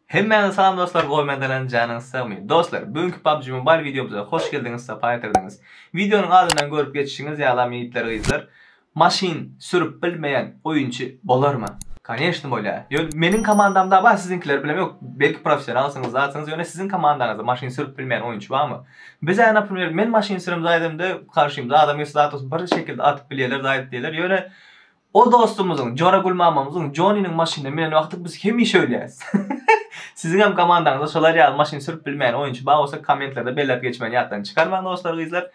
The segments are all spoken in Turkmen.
Hemmäňize salam dostlar gowy men Dalan janyňyz sagmy dostlar bu günki PUBG Mobile wideomyza hoş geldiňiz sapa getirdiňiz wideonyň adyndan görüp geçişiňiz ýalam ýigitler gyzlar maşyn sürüp bilmeýän oýunçy bolarmy koneşni bolýar ýöne meniň komandamda bar siziňkileri bilem ýok belki professionalsyňyz zatsyňyz ýöne siziň komandaňyzda maşyn sürüp bilmeýän oýunçy barmy bizä naprmýer men maşyn sürem zaýdymda karşymda adam gelse zat bolsa bir şekilde atyp bilýärler zaýt diýerler ýöne O dostumyzyň, Jora Gulmamamyzyň, Joniniň maşynyny minen wagty biz hemişe ölýäris. Siziňem komandaňyzda şolar ýaly maşyn sürüp bilmeýän oýunçy bar bolsa kommentlerde belläp geçmegini ýatdan çykarmaň dostlar gyzlar.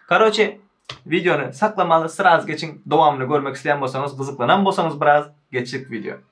Karoçe wideony saklamaly sraz geçiň dowamyny görmek isleýän bolsaňyz gyzyklanam bolsaňyz biraz geçdik wideo.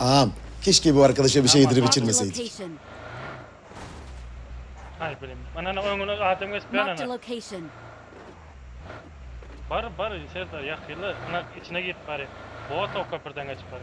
Aam. Keşke bu arkadaşa bir şey yedirip içirmeseydik. Hay bilim. Ana ana öňüne adam geçip ben ana. Bar bar Serdar yakıyla ana içine girip bari. Boğa tok köprüden geçip bari.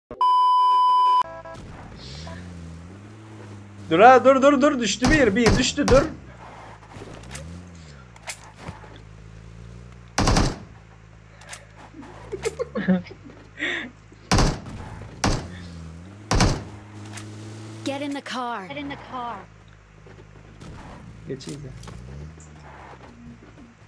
Dur ha dur dur dur düştü bir bir düştü dur. Get in the car. Get in the car. Geçeyim de.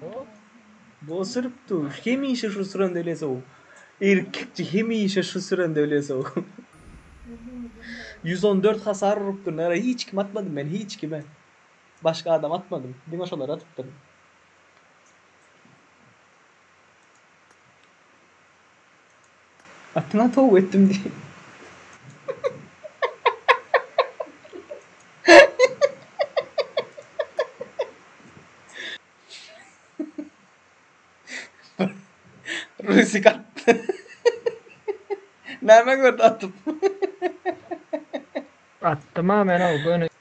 Hop. Go sürüp dur. Hemişe şu sürende öyle sow. Erkekçi hemişe şu sürende öyle sow. 114 hasar urupdyr. Nara hiç kim atmadım ben hiç kime. Başka adam atmadım. Diňe şolara atypdyryn. Atyňa tow etdim diýip. Rusik atdy. Näme gördi atyp? Atdym-a men-ow göni.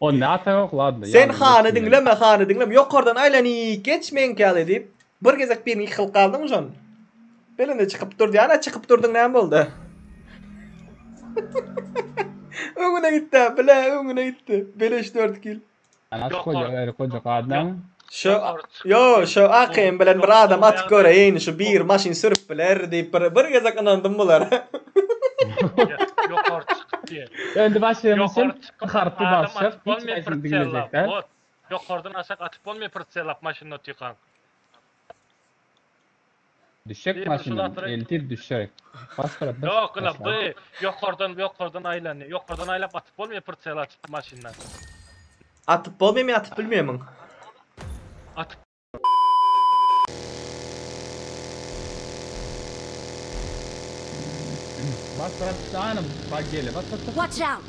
Onda ata yok ladno. Sen hany diňleme hany diňleme ýokardan aýlanyp geç meňki ýaly diýip bir gezek birini iki kylyp galdyň şon. Belende çykyp dur diýýän a çykyp durdyň näme boldy. öňüne gitdi bile öňüne gitdi. Beleş 4 kil. Anas goja gaýry goja gadam. Şu yo şu AKM bilen bir adam atyp göreýin şu bir maşyn sürüp biler diýip bir bir gezek ynandym bulara. Ýokary çykyp diýen. Öndi başlaýan üçin harpy basjak hiç haýsyny diňlejek däl. Ýokardan aşak atyp bolmaýar prtselap maşynda otykan. Düşek maşyndan eltir düşek. Bas brat bas. Yok ula bu yokardan yokardan aýlanýar. Yokardan aýlap atyp bolmaýar pritsel açyp maşyndan. Atyp bolmaýmy atyp bilmeýämiň. Atyp Bas brat şanym bak gele bas bas bas. Watch out!